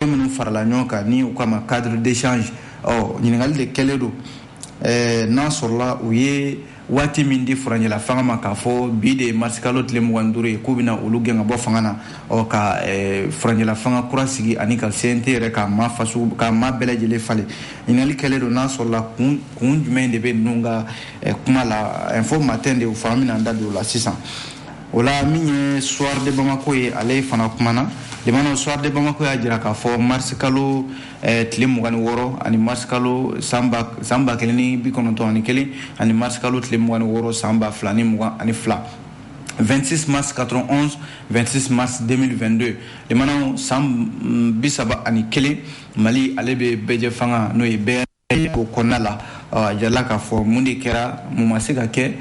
minnu farala ɲɔgɔn kan ni u k'a ma cadre d'échange ɔ ɲininkali de kɛlen don eh, n'a sɔrɔla u ye waati min di furancɛla fanga ma k'a fɔ bi de ye marisikalo tile mugan duuru ye k'u bɛna olu gɛn ka bɔ fanga na ɔ ka eh, furancɛla fanga kura sigi ani ka cnt yɛrɛ ka maa faso ka maa bɛɛ lajɛlen falen ɲininkali kɛlen don n'a sɔrɔla kun kun jumɛn de bɛ ninnu ka eh, kuma la info matin de fɛ an bɛna an da don o la sisan o la min ye soir de bamako ye ale fana kumana lamɛnnaw soir de bamako y'a jira k'a fɔ marisi kalo eh, tile mugan ni wɔɔrɔ ani marisi kalo san ba kelen ni bi kɔnɔntɔn ani kelen ani marisi kalo tile mugan ni wɔɔrɔ san ba fila ni mugan ani fila 26 mars 91 26 mars 2022 lamɛnnaw san mm, bi saba ani kelen mali ale bɛ bɛɛjɛfanga n'o ye bɛɛ ko kɔnɔna la a jirala k'a fɔ mun de kɛra mun ma se ka kɛ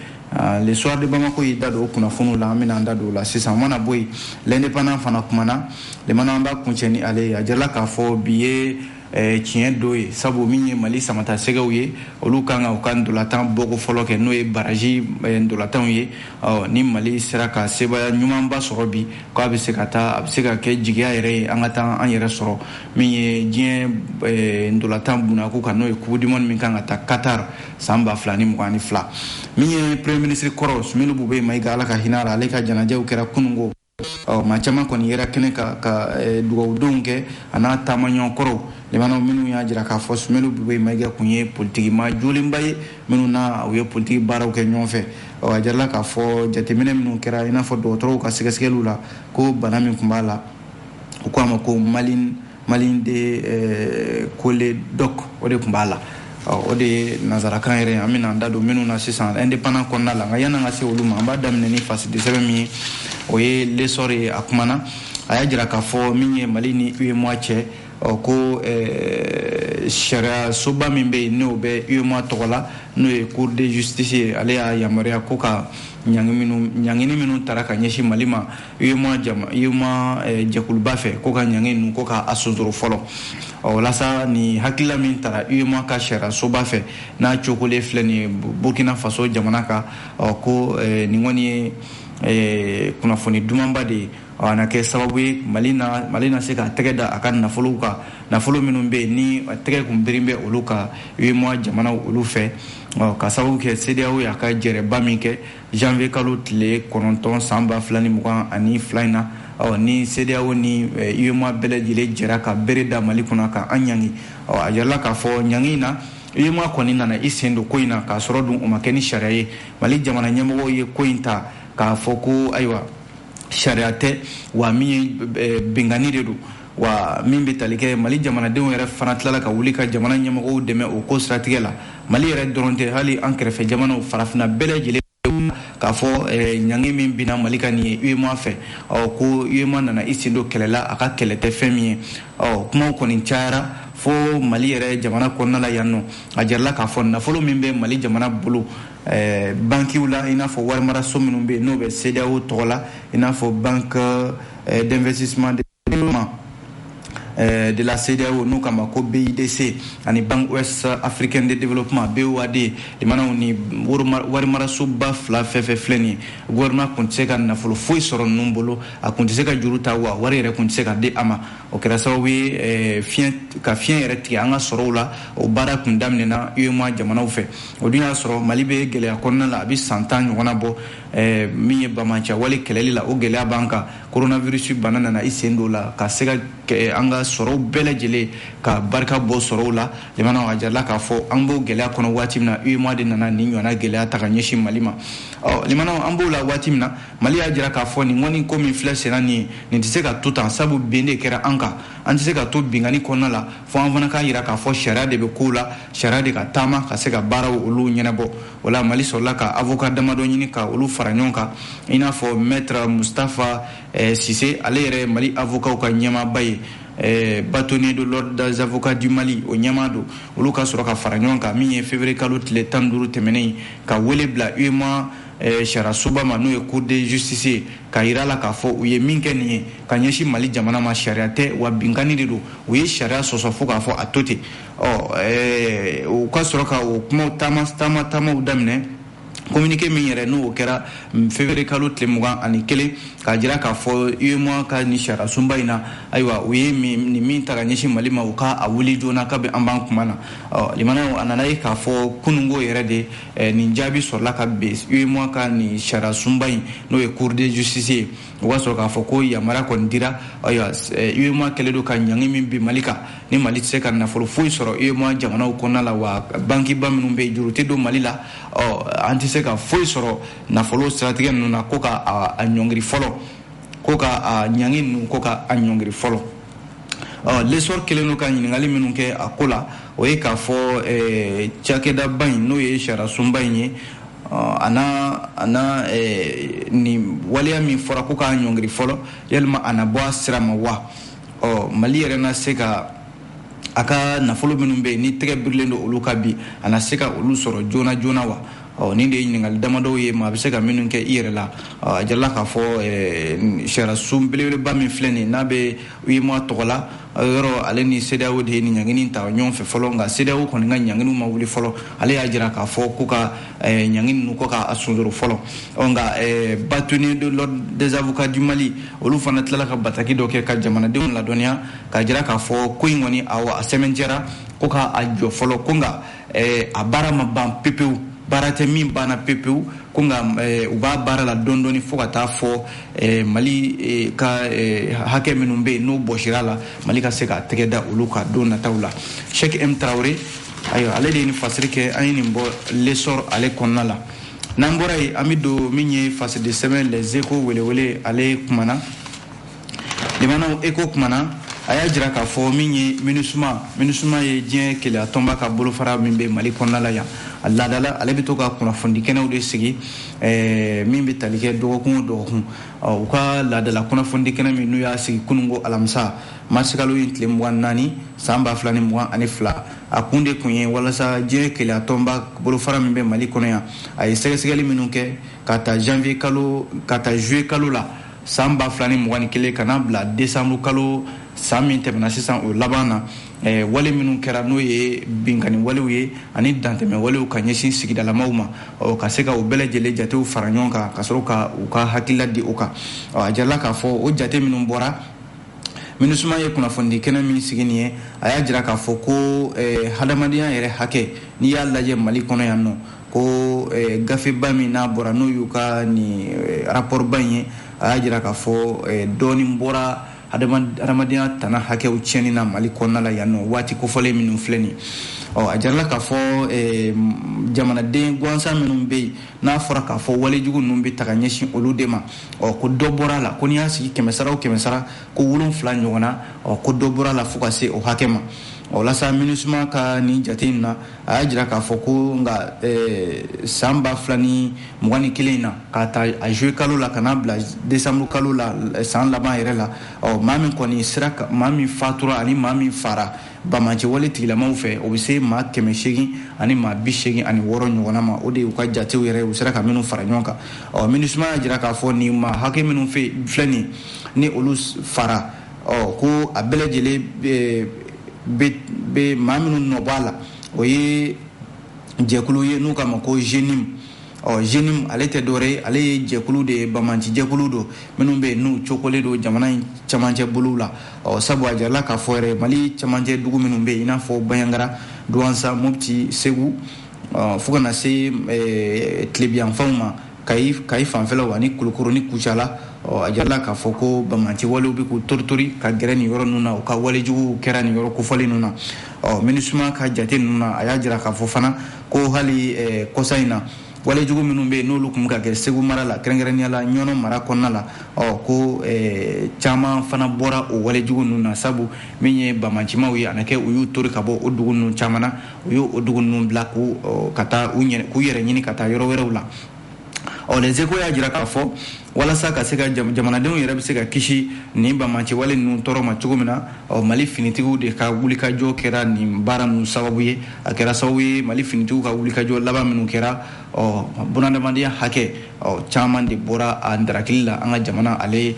le soir de bamako y'i da don o kunnafoniw la an bɛna an da don o la sisan mana bɔ yen l'indépendant fana kumana lamɛnnaw an b'a kuncɛ ni ale ye a jirala k'a fɔ bi ye Eh, tiɲɛ don ye sabu min ye mali samatasɛgɛw ye olu kan ka u ka ntolatan bɔko fɔlɔ kɛ n'o ye baraji eh, ntolatanw ye ni mali sera ka sebaaya ɲumanba sɔrɔ bi k'a bɛ se ka taa a bɛ se ka kɛ jigiya yɛrɛ ye an ka taa an yɛrɛ sɔrɔ min ye diɲɛ eh, ntolatan bunako kan n'o ye coupe du monde min kan ka tan qatar san ba fila ni mugan ni fila min ye premier ministre kɔrɔ sumelu bube mayiga ala ka hinɛ a la ale ka janajaw kɛra kunungo ɔ maa caman kɔni yera kɛnɛ kan ka eh, dugawudonw kɛ a n'a taamaɲɔgɔn kɔrɔw lamɛnnaw minnu y'a jira k'a fɔ sumelu bube mayiga kun ye politikimaa jolenba ye minnu n'a u ye politiki baaraw kɛ ɲɔgɔn fɛ ɔ a jirala k'a fɔ jateminɛ minnu kɛra i n'a fɔ dɔgɔtɔrɔw ka sɛgɛsɛgɛliw la ko bana min kun b'a la u ko a ma ko malin malin de eh, cholédoque o de tun b'a la o de ye nanzarakan yɛrɛ an bɛna an da don minnu na sisan indépendant kɔnɔna la nka yan'an ka se olu ma an b'a daminɛ ni fasodensɛbɛn min ye o ye l'essor ye a kumana a y'a jira k'a fɔ min ye mali ni uemoa cɛ ko eh, sariya soba min bɛ yen n'o bɛ uemoa tɔgɔ la n'o ye cour de justice ye ale y'a yamaruya ko ka ɲangini minnu tara ka ɲɛsin mali ma UEMOA jama UEMOA eh, jɛkuluba fɛ ko ka ɲangi ninnu ko k'a sonsoro fɔlɔ ɔ walasa nin hakilila min tara UEMOA ka sariyasoba fɛ n'a cokolen filɛ nin ye Burkina Faso jamana kan ɔ ko eh, nin kɔni ye eh, kunnafoni dumanba de ye a na kɛ sababu ye mali na mali na se k'a tɛgɛ da a ka nafolow kan nafolo minnu bɛ yen ni tɛgɛ kun birilen bɛ olu kan UEMOA jamanaw olu fɛ ka sababu kɛ CEDEAO y'a ka jɛrɛba min kɛ janvier kalo tile kɔnɔntɔn san ba fila ni mugan ani fila in na ɔ ni CEDEAO ni UEMOA eh, bɛɛ lajɛlen jɛra ka bere da Mali kunna ka an ɲangi ɔ a yirala k'a fɔ ɲangi in na UEMOA kɔni nana i sen don ko in na k'a sɔrɔ dun o ma kɛ ni sariya ye Mali jamana ɲɛmɔgɔw ye ko in ta k'a fɔ ko ayiwa sariya tɛ wa min ye eh, binkanni de don wa min bɛ tali kɛ mali jamanadenw yɛrɛ fana tilala ka wuli ka jamana ɲɛmɔgɔw dɛmɛ o ko siratigɛ la mali yɛrɛ dɔrɔn tɛ hali an kɛrɛfɛ jamanaw farafina bɛɛ lajɛlen k'a fɔ eh, ɲangi min binna mali kan nin ye uemoa fɛ ko uemoa nana i sen don kɛlɛ la a ka kɛlɛ tɛ fɛn min ye kumaw kɔni cayara fo mali yɛrɛ jamana kɔnɔna la yan nɔ a jirala k'a fɔ nafolo min bɛ mali jamana bolo eh, bankiw la i n'a fɔ warimaraso minnu bɛ yen n'o bɛ cedeao tɔgɔ la i n'a fɔ banque eh, d'investissement Eh, de la CEDEAO n'u k'a ma ko BIDC ani Banque Ouest Africaine de Développement BOAD limanaw nin warimarasoba fila fɛn fɛn filɛ nin ye gouvernement kun tɛ se ka nafolo foyi sɔrɔ ninnu bolo a kun tɛ se ka juru ta wa wari yɛrɛ kun tɛ se ka di a ma o kɛra sababu ye eh, fiɲɛ ka fiɲɛ yɛrɛ tigɛ an ka sɔrɔw la o baara kun daminɛna UEMOA jamanaw fɛ o dun y'a sɔrɔ Mali bɛ gɛlɛya kɔnɔna la a bɛ san tan ɲɔgɔnna bɔ eh, min ye banbaanciya wale kɛlɛli la o gɛlɛya b'an kan coronavirus bana nana i sen don la ka se ka an ka sɔrɔw bɛɛ lajɛlen ka barika bɔ sɔrɔw la jamana a jirala k'a fɔ an b'o gɛlɛya kɔnɔ waati min na UEMOA de nana nin ɲɔgɔnna gɛlɛya ta ka ɲɛsin Mali ma ɔ limanaw an b'o la waati min na Mali y'a jira k'a fɔ nin kɔni ko min filɛ senna nin ye nin tɛ se ka to tan sabu bin de kɛra an kan an tɛ se ka to binkanni kɔnɔna la fo an fana k'a jira k'a fɔ sariya de bɛ kow la sariya de ka taama ka se ka baaraw olu ɲɛnabɔ o la mali sɔrɔla ka avoka damadɔ ɲini ka olu fara ɲɔgɔn kan i n'a fɔ maître mustafa eh, sise ale yɛrɛ mali avokaw ka ɲɛmaaba ye eh, bâtonnier de l'ordre des avocats du mali o ɲɛmaa don olu ka sɔrɔ ka fara ɲɔgɔn kan min ye février kalo tile tan duuru tɛmɛnen ka wele bila uemoa eh, sariyasoba ma n'o ye cour de justice ye k'a yira a la k'a fɔ u ye min kɛ nin ye ka ɲɛsin mali jamana ma sariya tɛ wa binkanni de don u ye sariya sɔsɔ fo k'a fɔ a to ten ɔ u ka sɔrɔ ka o kuma taama taama taamaw daminɛ communiqué min yɛrɛ n'o kɛra février kalo tile mugan ani kelen k'a jira k'a fɔ UEMOA ka nin sariyasunba in na ayiwa u ye nin min ta ka ɲɛsin Mali ma u ka a wuli joona kabi an b'an kuma na ɔ limanaw a nana ye k'a fɔ kununko yɛrɛ de nin jaabi sɔrɔla ka bɛn UEMOA ka nin sariyasunba in n'o ye Cour de justice ye o b'a sɔrɔ k'a fɔ ko yamaruya kɔni dira ayiwa UEMOA eh, kɛlen don ka ɲangi min bin Mali kan ni Mali tɛ se ka nafolo foyi sɔrɔ UEMOA jamanaw kɔnɔna la wa bankiba minnu bɛ yen juru tɛ don Mali la ɔ an tɛ se ka foyi sɔrɔ nafolo siratigɛ ninnu na ko ka a ɲɔngiri fɔlɔ ko ka a ɲangi ninnu ko ka a ɲɔngiri fɔlɔ ɔ l'Essor kɛlen don ka ɲininkali minnu kɛ a ko la o ye k'a fɔ eh, cakɛdaba in n'o ye sariyasunba in ye a na a na eh, nin waleya min fɔra ko k'a ɲɔngiri fɔlɔ yalima a na bɔ a sira ma wa ɔ mali yɛrɛ na se ka a ka nafolo minnu bɛ yen ni tɛgɛ birilen don olu kan bi a na se ka olu sɔrɔ joona joona wa ɔ nin de ye ɲininkali damadɔw ye maa bɛ se ka minnu kɛ i yɛrɛ la a jarala k'a fɔ sariyasun belebeleba min filɛ nin n'a bɛ uemoa tɔgɔ la yɔrɔ ale ni cedeao de ye nin ɲangini ta ɲɔgɔn fɛ fɔlɔ nka cedeao kɔni ka ɲangini ma wuli fɔlɔ ale y'a jira k'a fɔ ko ka ɲangini ninnu ko k'a sunjoro fɔlɔ ɔ nka bâtonnier de l'ordre des avocats du mali olu fana tilala ka bataki dɔ kɛ ka jamanadenw ladɔnniya k'a jira k'a fɔ ko in kɔni a a sɛmɛntiyara ko k'a jɔ fɔlɔ ko nka eh, a baara ma ban pepewu baara tɛ min banna pepewu ko nka eh, u b'a baara la dɔɔni dɔɔni fo ka taa fɔ eh, mali eh, ka eh, hakɛ minnu bɛ yen n'o bɔsira la mali ka se k'a tɛgɛ da olu kan don nataw la sɛki m tarawele ayiwa ale de ye nin fasiri kɛ an ye nin bɔ l'essor ale kɔnɔna la n'an bɔra yen an bɛ don min ye fasidisɛbɛn les échos welewele ale kumana limanaw échos kumana a y'a jira k'a fɔ min ye minusuma minusuma ye diɲɛ kelenya tɔnba ka bolofara min bɛ mali kɔnɔna la yan a laadala ale bɛ to ka kunnafoni kɛnɛw de sigi eh, min bɛ tali kɛ dɔgɔkun o dɔgɔkun u ka laadala kunnafoni kɛnɛ min n'u y'a sigi kununko alamisa marisikalo in tile mugan naani san ba fila ni mugan ani fila a kun de kun ye walasa diɲɛ kelenya tɔnba bolofara min bɛ mali kɔnɔ yan a ye sɛgɛsɛgɛli minnu kɛ k'a ta janvier kalo k'a ta juillet kalo la san ba fila ni mugan ni kelen ka n'a bila desanburu kalo san min tɛmɛna sisan o laban na eh, wale minnu kɛra n'o ye binkanni walew ye ani dantɛmɛ walew ka ɲɛsin sigidalamaw ma ɔ ka se ka o bɛɛ lajɛlen jatew fara ɲɔgɔn kan ka sɔrɔ ka u ka hakilila di o kan ɔ a jarala k'a fɔ o jate minnu bɔra minusuma ye kunnafonidi kɛnɛ min sigi nin ye a y'a jira k'a fɔ ko eh, hadamadenya yɛrɛ hakɛ n'i y'a lajɛ mali kɔnɔ yan nɔ ko eh, gafeba min n'a bɔra n'o y'u ka nin eh, rapɔrɔba in ye a y'a jira k'a fɔ eh, dɔɔnin bɔra adamadenya tana hakɛw tiɲɛni na mali kɔnɔna la yan nɔ waati kofɔlen minnu filɛ nin ɔ a jarala k'a fɔ jamanaden gansan minnu bɛ yen n'a fɔra k'a fɔ walejugu ninnu bɛ taa ka ɲɛsin olu de ma ɔ ko dɔ bɔra a la ko n'i y'a sigi kɛmɛsara o kɛmɛsara ko wolonfila ɲɔgɔnna ɔ ko dɔ bɔra a la fo ka se o hakɛ ma o la sa minusuma ka nin jate in na a y'a jira k'a fɔ ko nka eh, san ba fila ni mugan ni kelen in na k'a ta a juillet kalo la ka n'a bila décembre kalo la eh, san laban yɛrɛ la ɔ maa min kɔni sara maa min fatura ani maa min fara banbaanci wale tigilamaw fɛ o bɛ se maa kɛmɛ seegin ani maa bi seegin ani wɔɔrɔ ɲɔgɔnna ma o de y'u ka jatew yɛrɛ u sera ka minnu fara ɲɔgɔn kan ɔ minusuma y'a jira k'a fɔ nin maa hakɛ minnu filɛ nin ni olu fara ɔ ko a bɛɛ lajɛlen bɛ maa minnu nɔ bɔ a la o ye jɛkulu ye n'u k'a ma ko jenim ɔ jenim ale tɛ dɔwɛrɛ ale ye jɛkulu de ye bamanci jɛkulu don minnu bɛ n'u cokolen don jamana in camancɛ bolow la ɔ sabu a jarala k'a fɔ yɛrɛ mali camancɛ dugu minnu bɛ yen i n'a fɔ baɲagara duwansa mopti segu fo ka na se tilebinyanfanw ma kayi kayi fanfɛlaw ani kulukoro ni kucala ɔ a jarala k'a fɔ ko bamanci walew bɛ k'u toritori ka gɛrɛ nin yɔrɔ ninnu na u ka walejuguw kɛra nin yɔrɔ kofɔlen ninnu na ɔ minisuma ka jate ninnu na a y'a jira k'a fɔ fana ko hali eh, kɔsa in na walejugu minnu bɛ yen n'olu tun ka kɛ segu mara la kɛrɛnkɛrɛnnenya la ɲɔnɔ mara kɔnɔna la ɔ ko eh, caman fana bɔra o walejugu ninnu na sabu min ye bamancimaw ye a na kɛ u y'u tori ka bɔ o dugu ninnu caman na u y' o dugu ninnu bila k' ka taa k'u yɛrɛ ɲini ka taa yɔrɔ wɛrɛw la ɔ les échos y'a jira k'a fɔ walasa ka se ka jamanadenw yɛrɛ bɛ se ka kisi nin bamanci wale ninnu tɔɔrɔ ma cogo min na ɔ mali finitigiw de ka wulikajɔ kɛra nin baara ninnu sababu ye a kɛra sababu ye mali finitigiw ka wulikajɔ laban minnu kɛra ɔ bunadamadenya hakɛ ɔ caman de bɔra a dankarili la an ka jamana ale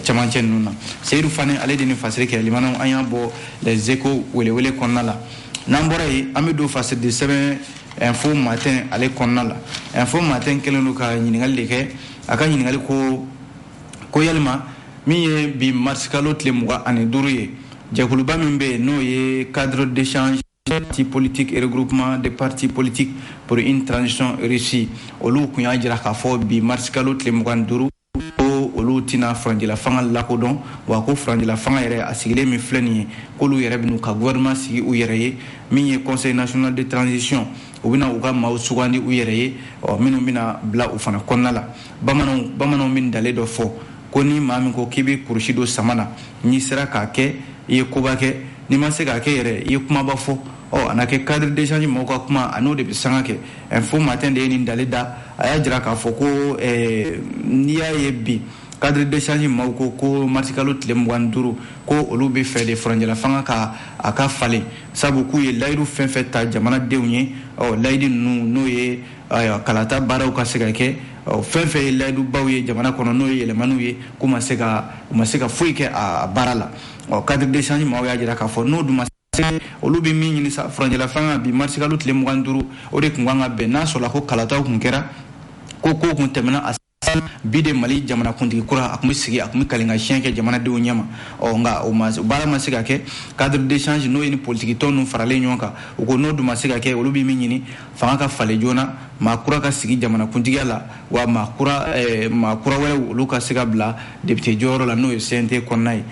camancɛ ninnu na seyidu fane ale de nin fasiri kɛ lamɛnnaw an y'a bɔ les échos welewele kɔnɔna la n'an bɔra yen an bɛ don fasiridi sɛbɛn info matin ale kɔnɔna la info matin kɛlen don ka ɲininkali de kɛ a ka ɲininkali ko ko yalima min ye bi marisikalo tile mugan ani duuru ye jɛkuluba min bɛ yen n'o ye cadre d'échange parti politique et regroupement de parti politique pour une transition réussie olu tun y'a jira k'a fɔ bi marisikalo tile mugan ni duuru ko olu tɛna furancɛla fanga lakodɔn wa ko furancɛla fanga yɛrɛ a sigilen min filɛ nin ye k'olu yɛrɛ bɛn'u ka gouvernement sigi u yɛrɛ ye min ye conseil national de transition u bɛna u ka maaw sugandi u yɛrɛ ye ɔ minnu bɛna bila u fana kɔnɔna la bamananw bamananw bɛ ntalen dɔ fɔ ko ni maa min ko k'i bɛ kurusi don sama na n'i sera k'a kɛ i ye koba kɛ n'i ma se k'a kɛ yɛrɛ i ye kumaba fɔ ɔ a na kɛ cadre d'échange maaw ka kuma a n'o de bɛ sanga kɛ info matin de ye nin ntalen da a y'a jira k'a fɔ ko eh, n'i y'a ye bi cadre d'échange maaw ko ko marisikalo tile mugan duuru ko olu b'a fɛ de furancɛlafanga ka a ka falen sabu k'u ye layidu fɛn fɛn ta jamanadenw ye ɔ layidi ninnu n'o ye kalata baaraw ka se ka kɛ fɛn fɛn ye layidubaw ye jamana kɔnɔ n'o ye yɛlɛmaniw ye k'u ma se ka u ma se ka foyi kɛ a baara la ɔ cadre d'échange maaw y'a jira k'a fɔ n'o dun ma olu bɛ min ɲini sa furancɛlafanga bi marisikalo tile mugan duuru o de tun kan ka bɛn n'a sɔrɔla ko kalataw tun kɛra ko kow tun tɛmɛna a bi de mali jamanakuntigi kura a tun bɛ sigi a tun bɛ kali ka siyɛn kɛ jamanadenw ɲɛma ɔ nka o ma baara ma se ka kɛ cadre d'échange n'o ye nin politikitɔn ninnu faralen ɲɔgɔn kan u ko n'o dun ma se ka kɛ olu bɛ min ɲini fanga ka falen joona maa kura ka sigi jamanakuntigiya la wa maa kura eh, maa kura wɛrɛw olu ka se ka bila depite jɔyɔrɔ la n'o ye cnt kɔnɔna ye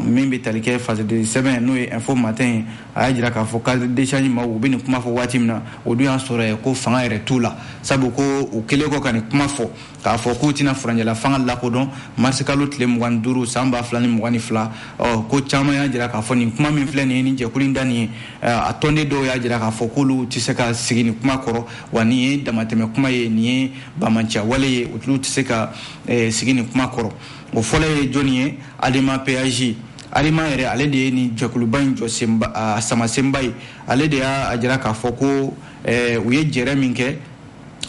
min bɛ tali kɛ fasoden sɛbɛn n'o ye info matin a y'a jira k'a fɔ cadre d'échange maaw bɛ nin kuma fɔ waati min na o dun y'a sɔrɔ ko fanga yɛrɛ t'u la sabu ko u kɛlen kɔ ka nin kuma fɔ k'a fɔ k'u tɛna furancɛla fanga lakodɔn marisikalo tile mugan duuru san ba fila ni mugan ni fila ko caman y'a jira k'a fɔ nin kuma min filɛ nin ni jɛkulu in da nin ye a tɔnden dɔw y'a jira k'a fɔ k'olu tɛ se ka sigi nin kuma kɔrɔ wa nin ye damatɛmɛ kuma ye nin ye banbaanciya wale ye u tɛ se ka sigi nin kuma kɔrɔ o fɔlɔ ye jɔnni ye adema pasj adema yɛrɛ ale de ye nin jɛkuluba in jɔ samasenba ye ale de y'a jira k'a fɔ ko u ye jɛrɛ min kɛ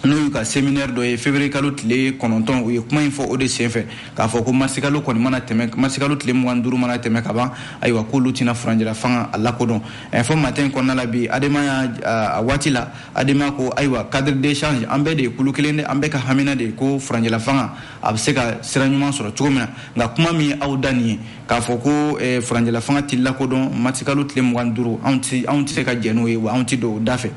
n'o y'u ka seminɛri dɔ ye feburuyekalo tile kɔnɔntɔn u ye kuma in fɔ o de senfɛ k'a fɔ ko masikalo kɔni mana tɛmɛ masikalo tile mugan duuru mana tɛmɛ ka ban ayiwa k'olu tɛna furancɛla fanga a lakodɔn info matin kɔnɔna la bi adema y'a waati la adema ko ayiwa cadre d'échange an bɛɛ de ye kulu kelen de an bɛɛ ka hamina de ye ko furancɛla fanga a bɛ se ka sira ɲuman sɔrɔ cogo min na nka kuma min ye aw da nin ye k'a fɔ ko eh, furancɛla fanga tɛ lakodɔn marisikalo tile mugan duuru anw tɛ se ka jɛn n'o ye wa anw tɛ don o da fɛ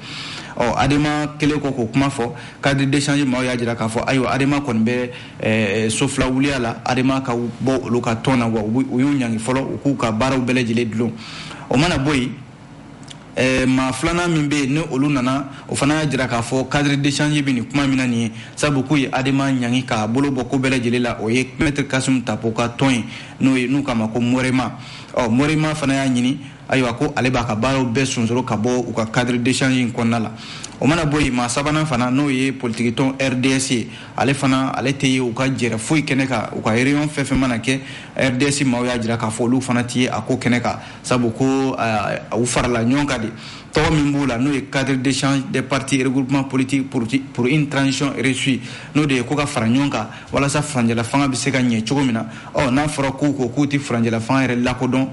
ɔ adema kɛlen kɔ k'o kuma fɔ cadre d'échange maaw y'a jira k'a fɔ ayiwa adema kɔni bɛ eh, so fila wuliya la adema ka bɔ olu ka tɔn na wa u y'u ɲangi fɔlɔ u k'u ka baaraw bɛɛ lajɛlen dulon o mana bɔ yen Eh, maa filanan min bɛ yen ni olu nana o fana y'a jira k'a fɔ cadre d'échange bɛ nin kuma min na nin ye sabu k'u ye adema ɲangi k'a bolo bɔ ko bɛɛ lajɛlen la o ye maître kasumu tapo ka tɔn ye n'o ye n'u k'a ma ko morema ɔ morema fana y'a ɲini ayiwa ko ale b'a ka baaraw bɛɛ sonsoro ka bɔ u ka cadre d'échange in kɔnɔna la o mana bɔ yen maa sabanan fana n'o ye politikitɔn rds ye ale fana ale tɛ ye u ka jɛrɛ foyi kɛnɛ kan u ka réunion fɛn fɛn mana kɛ rds maaw y'a jira k'a fɔ olu fana tɛ ye a ko kɛnɛ kan sabu ko u farala ɲɔgɔn kan de tɔgɔ min b'u la n'o ye cadre d'échange des partis et regroupements politiques pour une transition réussie n'o de ye ko ka fara ɲɔgɔn kan walasa furancɛla fanga bɛ se ka ɲɛ cogo min na ɔ n'a fɔra k'u ko k'u tɛ furancɛla fanga yɛrɛ lakodɔn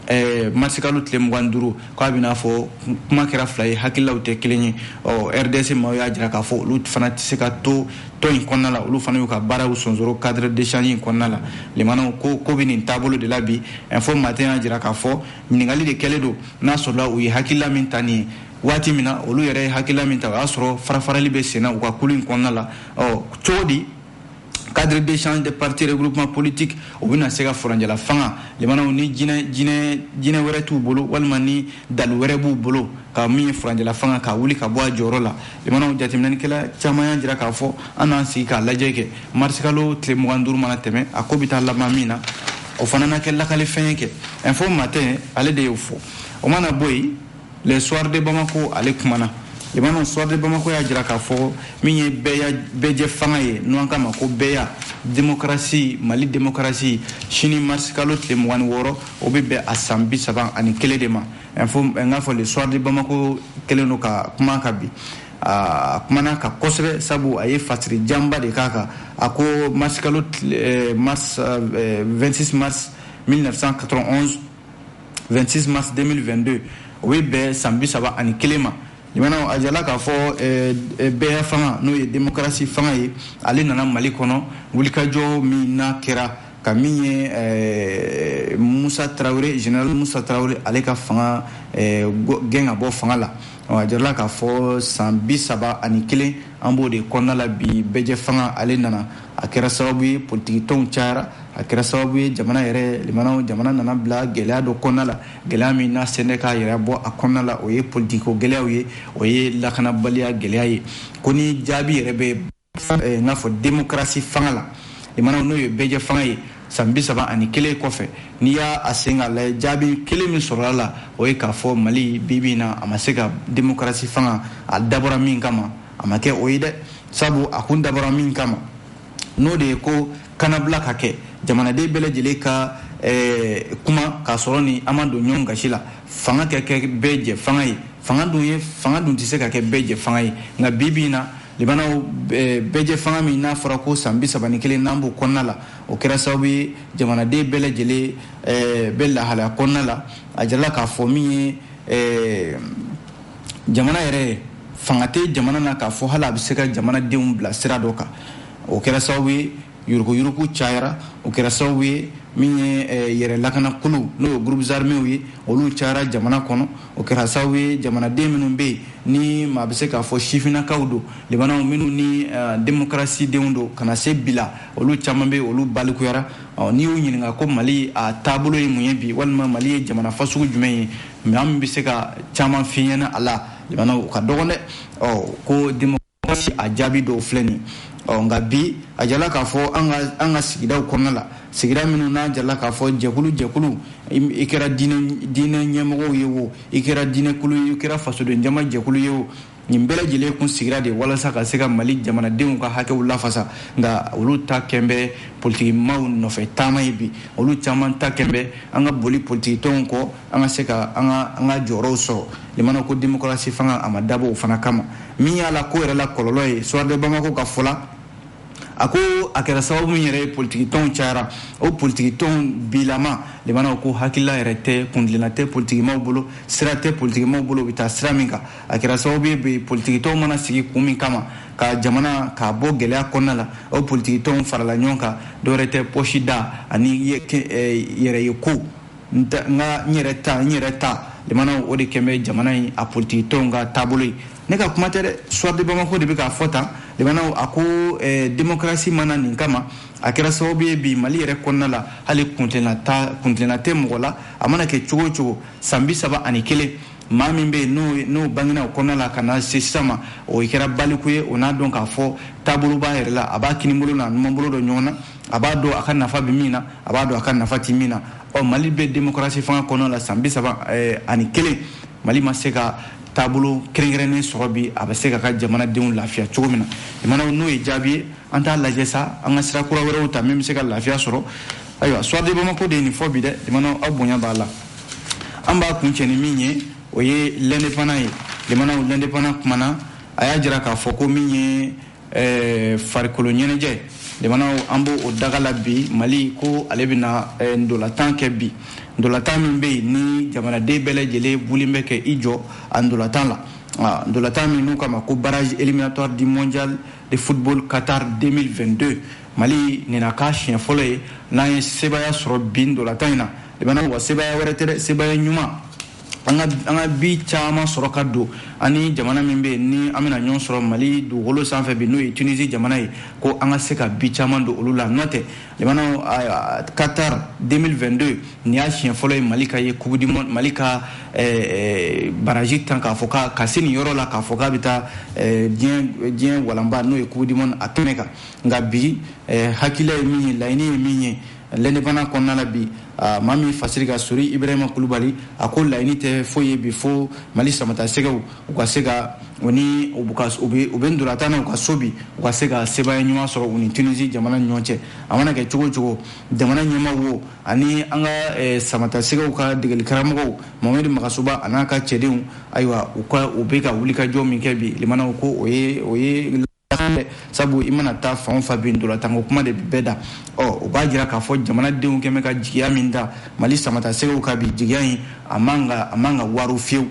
Eh, marsikalo tile mugan duuru k'a bɛna fɔ kuma kɛra fila ye hakililaw tɛ kelen ye ɔ rds maaw y'a jira k'a fɔ olu fana tɛ se ka to tɔn in kɔnɔna la olu fana y'u ka baaraw sonsoro cadre d'échange in kɔnɔna la limanaw ko ko bɛ nin taabolo de la bi info matin y'a jira k'a fɔ ɲininkali de kɛlen don n'a sɔrɔla u ye hakilila min ta nin ye waati min na olu yɛrɛ ye hakilila min ta o y'a sɔrɔ farafarali bɛ senna u ka kulu in kɔnɔna la ɔ cogo di cadre d'échange des partis regroupements politiques u bɛna se ka furancɛla fanga limanaw ni jinɛ jinɛ jinɛ wɛrɛ t'u bolo walima ni dalu wɛrɛ b'u bolo ka min ye furancɛla fanga ka wuli ka bɔ a jɔyɔrɔ la limanaw jateminɛnikɛla caman y'a jira k'a fɔ an n'an sigi k'a lajɛ kɛ marisikalo tile mugan duuru mana tɛmɛ a ko bɛ taa laban min na o fana na kɛ lakalifɛn ye kɛ info matin ale de y'o fɔ o mana bɔ yen le soir de bamako ale kumana lamɛnnaw soir de bamako y'a jira k'a fɔ min ye bɛɛjɛ fanga ye n'an k'a ma ko bɛɛya demokarasi mali demokarasi sini marisi kalo tile mugan ni wɔɔrɔ o bɛ bɛn a san bi saba ani kelen de ma info n k'a fɔ le soir de bamako kɛlen don ka kuma kan bi a kumana kan kosɛbɛ sabu a ye fasiri janba de k'a kan a ko marsikalo eh, 26 eh, mars 1991 26 mars 2022 o bɛ bɛn san bi saba ani kelen ma lamɛnnaw a jala k'a fɔ eh, bɛɛya fanga n'o ye demokarasi fanga ye ale nana mali kɔnɔ wulikajɔ min n'a kɛra ka min ye eh, musa tarawele general musa tarawele ale ka fanga eh, gɛn ka bɔ fanga la a jirala k'a fɔ san bi saba ani kelen an b'o de kɔnɔna la bi bɛɛjɛ fanga ale nana a kɛra sababu ye politikitɔnw cayara a kɛra sababu ye jamana yɛrɛ lamɛnnaw jamana nana bila gɛlɛya dɔ kɔnɔna la gɛlɛya min n'a sen tɛ k'a yɛrɛ bɔ a kɔnɔna la o ye politikiko gɛlɛyaw ye o ye lakanabaliya gɛlɛya ye ko ni jaabi yɛrɛ bɛ eh, n k'a fɔ demokarasi fanga la lamɛnnaw n'o ye bɛɛjɛ fanga ye san bi saba ani kelen kɔfɛ n'i y'a a sen ka lajɛ jaabi kelen min sɔrɔla a la o ye k'a fɔ mali bi bi in na a ma se ka demokarasi fanga a dabɔra min kama a ma kɛ o ye dɛ sabu a kun dabɔra min kama n'o de ye ko kanabila ka kɛ jamanaden bɛɛ lajɛlen ka eh, kuma k'a sɔrɔ ni an ma don ɲɔgɔn gasi la fanga ka kɛ bɛɛ jɛ fanga ye fanga dun ye fanga dun tɛ se ka kɛ bɛɛ jɛ fanga ye nka bi bi in na lamɛnnaw bɛɛjɛ fanga min n'a fɔra ko san bisaba ni kelen n'an b'o kɔnɔna la o kɛra sababu ye jamanaden bɛɛ lajɛlen bɛ lahalaya kɔnɔna la a jirala k'a fɔ min ye jamana yɛrɛ fanga tɛ jamana na k'a fɔ hali a bɛ se ka jamanadenw bila sira dɔ kan o kɛra sababu ye yurugu yurugu cayara o kɛra sababu ye min ye eh, yɛrɛ lakanakuluw n'o ye groupes armés ye olu cayara jamana kɔnɔ o kɛra sababu ye jamanaden minnu bɛ yen ni maa bɛ se k'a fɔ sifinnakaw don lamɛnnaw minnu ni eh, démocratie denw don ka na se bi la olu caman bɛ olu balikuyara n'i y'u ɲininka ko mali a taabolo ye mun ye bi walima mali ye jamana fasugu jumɛn ye minnu bɛ se ka caman f'i ɲɛ na a la lamɛnnaw u ka dɔgɔn dɛ ko a jaabi dɔw filɛ nin ɔ nka bi a jala k'a fɔ an ka an ka sigidaw kɔnɔna la sigida minnu n'a jala k'a fɔ jɛkulu jɛkulu i kɛra diinɛ ɲɛmɔgɔw ye o i kɛra diinɛkulu ye i kɛra fasoden jama jɛkulu ye o nin bɛɛ lajɛlen kun sigira de walasa ka se ka mali jamanadenw ka hakɛw lafasa nka olu ta kɛn bɛ politikimaw nɔfɛ taama ye bi olu caman ta kɛn bɛ an ka boli politikitɔnw kɔ an ka se ka an ka an ka jɔyɔrɔw sɔrɔ limana ko demokarasi fanga a ma dabɔ o fana kama min y'a la ko yɛrɛ la kɔlɔlɔ ye soir de bamako ka fɔ la a ko a kɛra sababu min yɛrɛ ye politiki tɔnw cayara o politiki tɔnw bilama limanaw ko hakilila yɛrɛ tɛ kuntilenna tɛ politikimaw bolo sira tɛ politikimaw bolo u bɛ taa sira min kan a kɛra sababu ye bi politiki tɔnw mana sigi kun min kama ka jamana k'a bɔ gɛlɛya kɔnɔna la o politiki tɔnw farala ɲɔgɔn kan dɔwɛrɛ tɛ pɔsi da ani yɛrɛ ye ko n ka n yɛrɛ ta n yɛrɛ ta limanaw o de kɛlen bɛ jamana in na politigi tɔnw ka taabolo ye ne ka kuma tɛ dɛ soir de bamako de bɛ k'a fɔ tan limanaw a ko eh, demokarasi nana min kama a kɛra sababu ye bi mali yɛrɛ kɔnɔna la hali kuntilenna tɛ mɔgɔ la a mana kɛ cogo o cogo san bi saba ani kelen maa min bɛ yen n'o bangena o kɔnɔna la ka na se sisan ma o kɛra baliku ye o n'a dɔn k'a fɔ taabolo b'a yɛrɛ la a b'a kinibolo n'a numanbolo dɔn ɲɔgɔn na a b'a dɔn a ka nafa bɛ min na a b'a dɔn a ka nafa tɛ min na ɔ mali bɛ demokarasi fanga kɔnɔna la san bi saba eh, ani kelen mali ma se ka taabolo kɛrɛnkɛrɛnnen sɔrɔ bi a bɛ se ka ka jamanadenw lafiya cogo min na limanaw n'o ye jaabi ye an t'a lajɛ sa an ka sira kura wɛrɛw ta min bɛ se ka lafiya sɔrɔ ayiwa soir de bamako de ye nin fɔ bi dɛ limanaw aw bonya b'a la an b'a kun cɛ ni min ye o ye l'indépendant ye limanaw l'indépendant kumana a y'a jira k'a fɔ ko min ye ɛɛ farikolo ɲɛnajɛ limanaw an b'o daga la bi mali ko ale bɛna eh, ndolatan kɛ bi ndolatan min bɛ yen ni jamanaden bɛɛ lajɛlen wulilen bɛ k'i jɔ a ndolatan la ah, ndolatan min n'u kama ko barrage éliminatoire du mondial de football qatar 2022 mali nina k'a siɲɛ fɔlɔ ye n'an ye sebaya sɔrɔ bi ndolatan in na limanaw wa sebaya wɛrɛ tɛ dɛ sebaya ɲuman an ka bi caman sɔrɔ ka don ani jamana min bɛ yen ni an bɛna ɲɔgɔn sɔrɔ mali dugukolo sanfɛ bi n'o ye tunisi jamana ye ko an ka se ka bi caman don olu la n'o tɛ limanaw qatar 2022 nin y'a siɲɛ fɔlɔ ye mali ka ye coupe du mali ka eh, eh, baraji tan k'a fɔ ka ka se nin yɔrɔ la k'a fɔ k'a bɛ taa eh, diɲɛ diɲɛ walanba n'o ye coupe du monde a kɛnɛ kan nka bi hakilila ye min ye laɲini ye min ye l'indépendant kɔnɔna la bi maa min fasiri ka sori ibrahima kulubali a ko laɲini tɛ foyi ye bi fo mali samata sɛgɛw u ka se ka u ni u bɛ ndolatan na u ka so bi u ka se ka sebaaya ɲuman sɔrɔ u ni tunisi jamana ni ɲɔgɔn cɛ a mana kɛ cogo cogo jamana ɲɛma wo ani an ka eh, samata sɛgɛw ka degeli karamɔgɔw mamɛdi magasuba a n'a ka cɛdenw ayiwa u ka u bɛ ka wulikajɔ min kɛ bi limanaw ko o ye o ye sabu i mana taa fan o fan bɛ dolatanko kuma de bɛɛ da ɔ o b'a jira k'a fɔ jamanadenw kɛlen bɛ ka jigiya min da mali samata sɛgɛw kan bi jigiya in a man a man ka waro fiyewu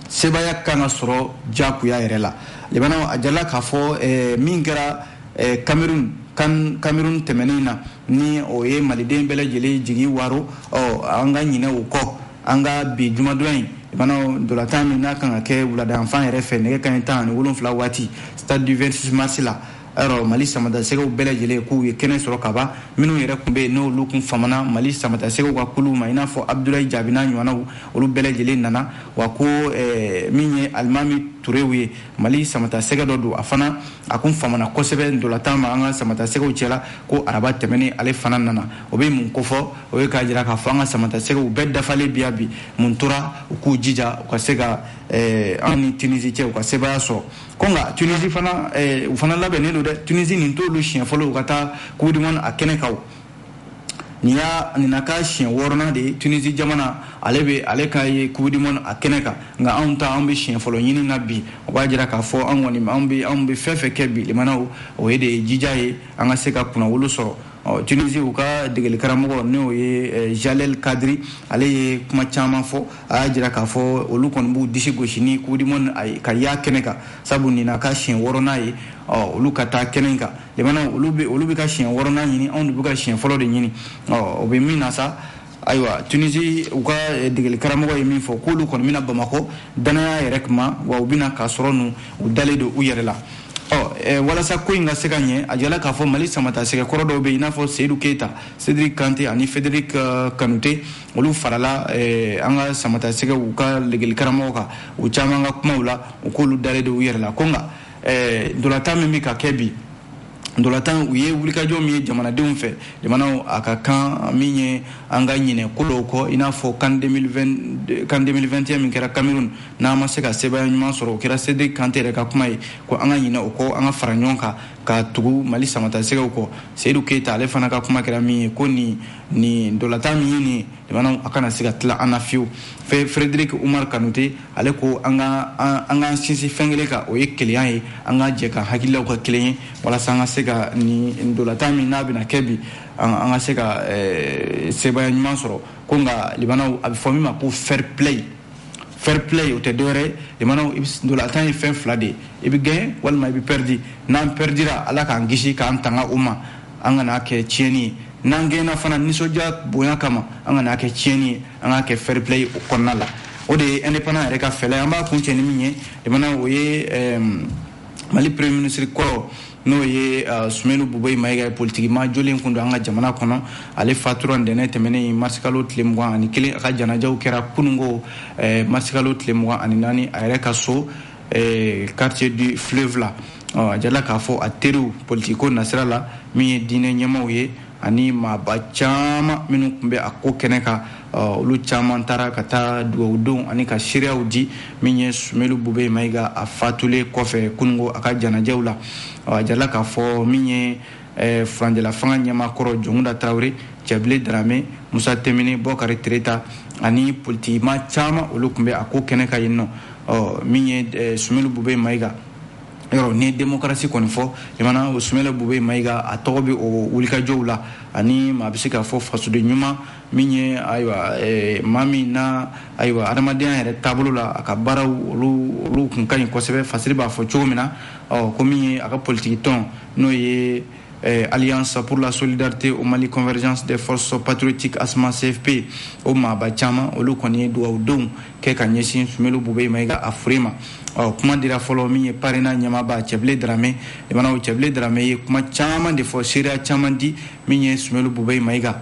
sebaaya kan ka sɔrɔ jagoya yɛrɛ la limana a jala k'a fɔ eh, min kɛra eh, cameroun kan cameroun tɛmɛnen na ni o ye maliden bɛɛ lajɛlen jigi waro ɔ an ka ɲinɛ o kɔ an ka bi jumadon in lamɛnnaw ntolatan min n'a kan ka kɛ wuladayanfan yɛrɛ fɛ nɛgɛ kaɲɛ tan ani wolonfila waati stade du 26 mars la yɔrɔ mali samatasɛgɛw bɛɛ lajɛlen k'u ye kɛnɛ sɔrɔ ka ban minnu yɛrɛ kun bɛ yen n'olu kun famana mali samatasɛgɛw ka kuluw ma i n'a fɔ abudulayi jaabi n'a ɲɔgɔnnaw olu bɛɛ lajɛlen nana wa ko eh, min ye alimami turew ye mali samatasɛgɛ dɔ don a fana a kun famana kosɛbɛ ntolatan ma an ka samatasɛgɛw cɛla ko araba tɛmɛnen ale fana nana o bɛ mun kofɔ o ye k'a jira k'a fɔ an ka samatasɛgɛw bɛɛ dafalen bɛ yan bi mun tora u k'u jija u ka se ka eh, an ni tunisi cɛ u ka sebaaya sɔrɔ ko nka tunisi fana eh, u fana labɛnnen don dɛ tunisi nin t'olu siɲɛ fɔlɔ u ka taa coupe du monde a kɛnɛ kan nin y'a nin na k'a siɲɛ wɔɔrɔnan de ye tunisi jamana ale bɛ ale ka ye coupe du monde a kɛnɛ kan nka anw ta anw bɛ siɲɛ fɔlɔ ɲini na bi o b'a jira k'a fɔ an kɔni anw bɛ anw bɛ fɛn fɛn kɛ bi lamɛnnaw o ye de ye jija ye an ka se ka kunnawolo sɔrɔ ɔ tunisi u ka degelikaramɔgɔ n'o ye eh, jalel kadri ale ye kuma caman fɔ a y'a jira k'a fɔ olu kɔni b'u disi gosi ni coupe du monde ka y'a kɛnɛ kan sabu nin na k'a siɲɛ wɔɔrɔnan ye ɔ olu ka taa kɛnɛ in kan lamɛnnaw olu bɛ ka siɲɛ wɔɔrɔnan ɲini anw de bɛ ka siɲɛ fɔlɔ de ɲini ɔ o bɛ min na sa ayiwa tunisi u ka eh, degeli karamɔgɔ ye min fɔ k'olu kɔni bɛ na bamakɔ dannaya yɛrɛ kuma wa u bɛna k'a sɔrɔ nu u dalen don u yɛrɛ la ɔ eh, walasa ko in ka se ka ɲɛ a jirala k'a fɔ mali samatasɛgɛ kɔrɔ dɔw bɛ yen i n'a fɔ seyidu keyita cedric kante ani frederic eh, kanute olu farala an ka samatasɛgɛw ka degeli karamɔgɔ kan u caman ka kumaw la u k'olu dalen don u yɛrɛ la ko nka ntolatan min bɛ ka kɛ bi Ntolatan u ye wulikajɔ min ye jamanadenw fɛ jamanaw a ka kan min ye an ka ɲinɛ ko dɔw kɔ i n'a fɔ CAN 2021 min kɛra Cameroun n'an ma se ka sebaaya ɲuman sɔrɔ o kɛra Cedric Kante yɛrɛ ka kuma ye ko an ka ɲinɛ o kɔ an ka fara ɲɔgɔn kan ka tugu Mali samatasɛgɛw kɔ Seyidu Keyita ale fana ka kuma kɛra min ye ko nin nin ntolatan min ye nin jamanaw a kana se ka tila an na fiyewu fɛ frederic umar kanute ale ko an ka an k'an sinsin fɛn kelen kan o ye kelenya ye an ka jɛ ka hakililaw kɛ kelen ye walasa an ka se ka nin ntolatan min n'a bɛna kɛ bi an ka se ka eh, sebaaya ɲuman sɔrɔ ko nka lamɛnnaw a bɛ fɔ min ma ko fair play fair play o tɛ dɔwɛrɛ ye lamɛnnaw ntolatan ye fɛn fila de ye i bɛ gaɲe walima i bɛ pɛridi n'an pɛridira ala k'an kisi k'an tanga o ma an kana kɛ tiɲɛni ye n'an gaɲena fana nisɔndiya bonya kama an kana kɛ tiɲɛni ye an ka kɛ fair play o kɔnɔna la o de ye indépendant yɛrɛ ka fɛla ye an b'a kuncɛ ni min ye lamɛnnaw o ye mali premier ministre kɔrɔ n'o ye euh, sumeyilu bubɛyi mayiga ye politikimaa jɔlen kun don an ka jamana kɔnɔ ale fatura ntɛnɛn tɛmɛnen marisikalo tile mugan ani kelen a ka janajaw kɛra kunungo eh, marisikalo tile mugan ani naani a yɛrɛ ka so ɛɛ quartier du fleuve la ɔ a jala k'a fɔ a teriw politiko nasira la min ye diinɛ ɲɛmaaw ye ani maaba caman minnu tun bɛ a ko kɛnɛ kan olu caman taara ka taa dugawu don ani ka seereyaw di min ye sumelu bube mayiga a fatulen kɔfɛ kunungo a ka janajaw la a jala k'a fɔ min ye eh, furancɛlafanga ɲɛmaa kɔrɔ jɔnkunda tarawele cɛbile darame musa tinbine bɔkari tereta ani politikimaa caman olu tun bɛ a ko kɛnɛ kan yen nɔ ɔ min ye eh, sumelu bube mayiga yɔrɔ ni demokarasi kɔni fɔ jamana o sumelu bube mayiga a tɔgɔ bɛ o wulikajɔw la ani maa bɛ se k'a fɔ fasoden ɲuman min ye ayiwa eh, maa min na ayiwa adamadenya yɛrɛ taabolo la a ka baaraw olu olu kun ka ɲi kosɛbɛ fasiri b'a fɔ cogo min na ɔ ko min ye a ka politiki tɔn n'o ye eh, alliance pour la solidarité au mali convergence des forces patriotiques asma cfp o maaba caman olu kɔni ye dugawudonw kɛ ka ɲɛsin sumelu bube mayiga a fure ma ɔ kuma dira fɔlɔ min ye parena ɲɛmaaba cɛbile darame limanaw cɛbile darame ye kuma caman de fɔ seereya caman di min ye sumelu bube mayiga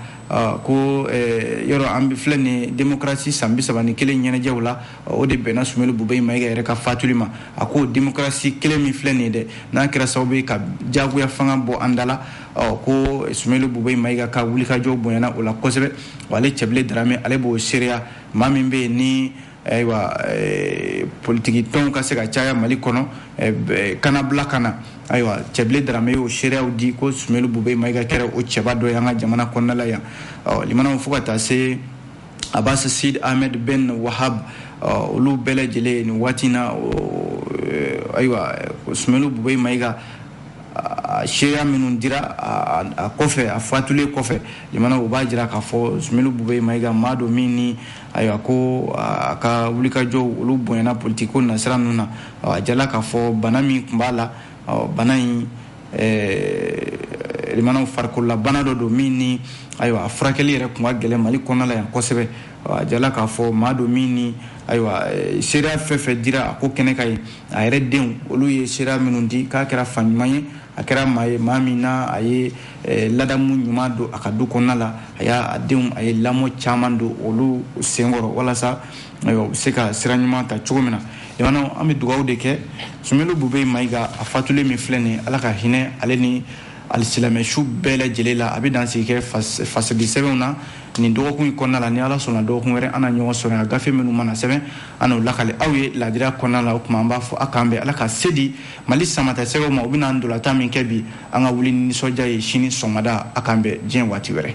ko eh, yɔrɔ an filɛ nin demokarasi san bi saba ni kelen ɲɛnajɛw la o de bɛnna sumelu bube mayiga yɛrɛ ka fatuli ma a ko demokarasi kelen min filɛ nin ye dɛ n'a kɛra sababu ye ka jagoya fanga bɔ an da la ɔ ko sumelu bube mayiga ka wulikajɔ bonyana o la kosɛbɛ wa ale cɛbile darame ale b'o seereya maa min bɛ yen ni ayiwa eh, politiki tɔnw ka se ka caya mali kɔnɔ eh, eh, kanabila ka na ayiwa cɛbile darame y'o seereyaw di ko sumelu bube mayiga kɛra o cɛba dɔ ye an ka jamana kɔnɔna la yan ɔ limanaw fo ka taa se abasi sid ahmed ben wahab olu bɛɛ lajɛlen nin waati na ayiwa sumelu bubey mayiga seereya minnu dira a kɔfɛ a fatulen kɔfɛ jamana u b'a jira k'a fɔ sumelu bubey mayiga maa don min ni ayiwa ko a ka wulikajɔw olu bonyana politiko nasira ninnu na a jala k'a fɔ bana min tun b'a la ɔ bana in limanaw farikololabana dɔ don min ni ayiwa a furakɛli yɛrɛ tun ka gɛlɛn mali kɔnɔna la yan kosɛbɛ a jala k'a fɔ maa don min ni ayiwa seereya fɛn fɛn dira a ko kɛnɛ kan yen a yɛrɛ denw olu ye seereya minnu di k'a kɛra fa ɲuman ye a kɛra maa ye maa min na a ye ladamu ɲuman don a ka du kɔnɔna la a y'a denw a ye lamɔ caman don olu senkɔrɔ walasa ayiwa u bɛ se ka sira ɲuman ta cogo min na jamana an bɛ dugawu de kɛ sumelu bube mayiga a fatulen min filɛ nin ala ka hinɛ ale ni alisilamɛsu bɛɛ lajɛlen la an bɛ dan sigi kɛ fasadi sɛbɛnw na nin dɔgɔkun in kɔnɔna la ni ala sɔnna dɔgɔkun wɛrɛ an na ɲɔgɔn sɔrɔ yan gafe minnu mana sɛbɛn an n'o lakali aw ye laadiriya kɔnɔna la o tuma an b'a fɔ a k'an bɛn ala ka se di mali samatasɛgɛw ma u bɛna ntolatan min kɛ bi an ka wuli ni nisɔndiya ye sini sɔgɔmada a k'an bɛn diɲɛ waati wɛrɛ